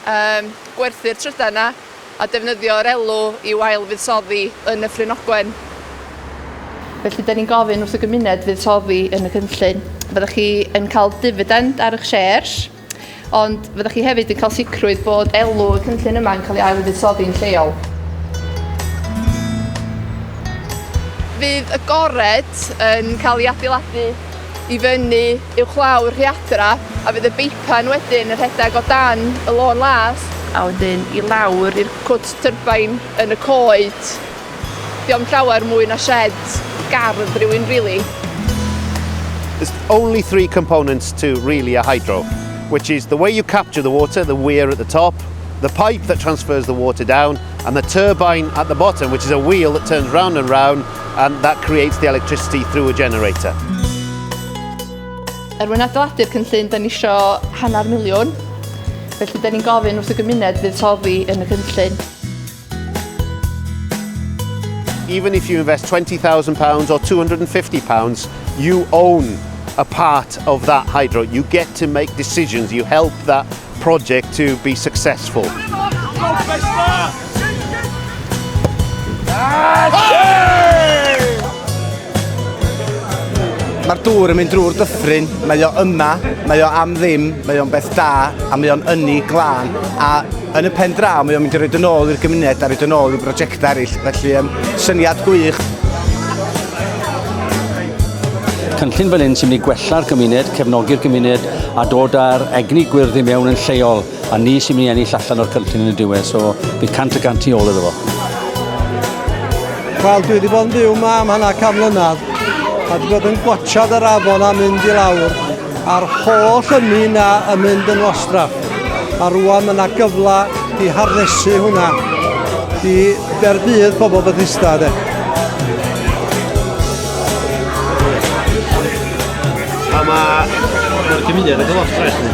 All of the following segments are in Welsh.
Yym, gwerthu'r trydan 'na a defnyddio'r elw i'w ail-fuddsoddi yn Nyffryn Ogwen. Felly, 'da ni'n gofyn wrth y gymuned fuddsoddi yn y cynllun. Fyddwch chi yn cael difidend ar eich shares, ond fyddwch chi hefyd yn cael sicrwydd bod elw y cynllun yma'n cael ei ail-fuddsoddi'n lleol. Fydd y gored yn cael ei adeiladu i fyny uwchlaw'r rhiadra a fydd y beipan wedyn yn rhedeg o dan y lôn las a wedyn i lawr i'r cwt tyrbain yn y coed. Diom llawer mwy na shed gardd rhywun really. There's only three components to really a hydro, which is the way you capture the water, the weir at the top, the pipe that transfers the water down, and the turbine at the bottom, which is a wheel that turns round and round and that creates the electricity through a generator. Er mwyn adeiladu'r cynllun, da ni isio hanner miliwn. Felly, da ni'n gofyn wrth y gymuned fydd soddi yn y cynllun. Even if you invest £20,000 or £250, you own a part of that hydro. You get to make decisions, you help that project to be successful. Mae'r dŵr yn mynd drwy'r dyffryn, mae o yma, mae o am ddim, mae o'n beth da, a mae o'n ynni glân, a yn y pen draw mae o'n mynd i roed yn ôl i'r gymuned a roed yn ôl i brosiectau eraill, felly um, syniad gwych. Cynllun fel hyn sy'n mynd i gwella'r gymuned, cefnogi'r gymuned, a dod â'r egni gwyrdd i mewn yn lleol, a ni sy'n mynd i ennill allan o'r cynllun yn y diwedd, so bydd cant y gant i ôl iddo fo. Wel, dwi wedi bod yn byw yma am hana cam mlynedd, a dwi wedi bod yn gwachad yr afon a mynd i lawr, a'r holl ynni yna yn mynd yn wastraff. A rwan mae yna gyfle i harnesu hwnna i dderbydd pobl Bethesda. De. A mae... Mae'r gymuned yn gyfod ffres ni.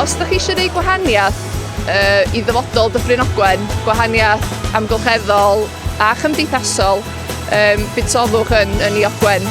Os ydych chi eisiau gwneud gwahaniaeth uh, i ddyfodol Dyffryn Ogwen, gwahaniaeth amgylcheddol a chymdeithasol, um, budsodwch yn, yn i Ogwen.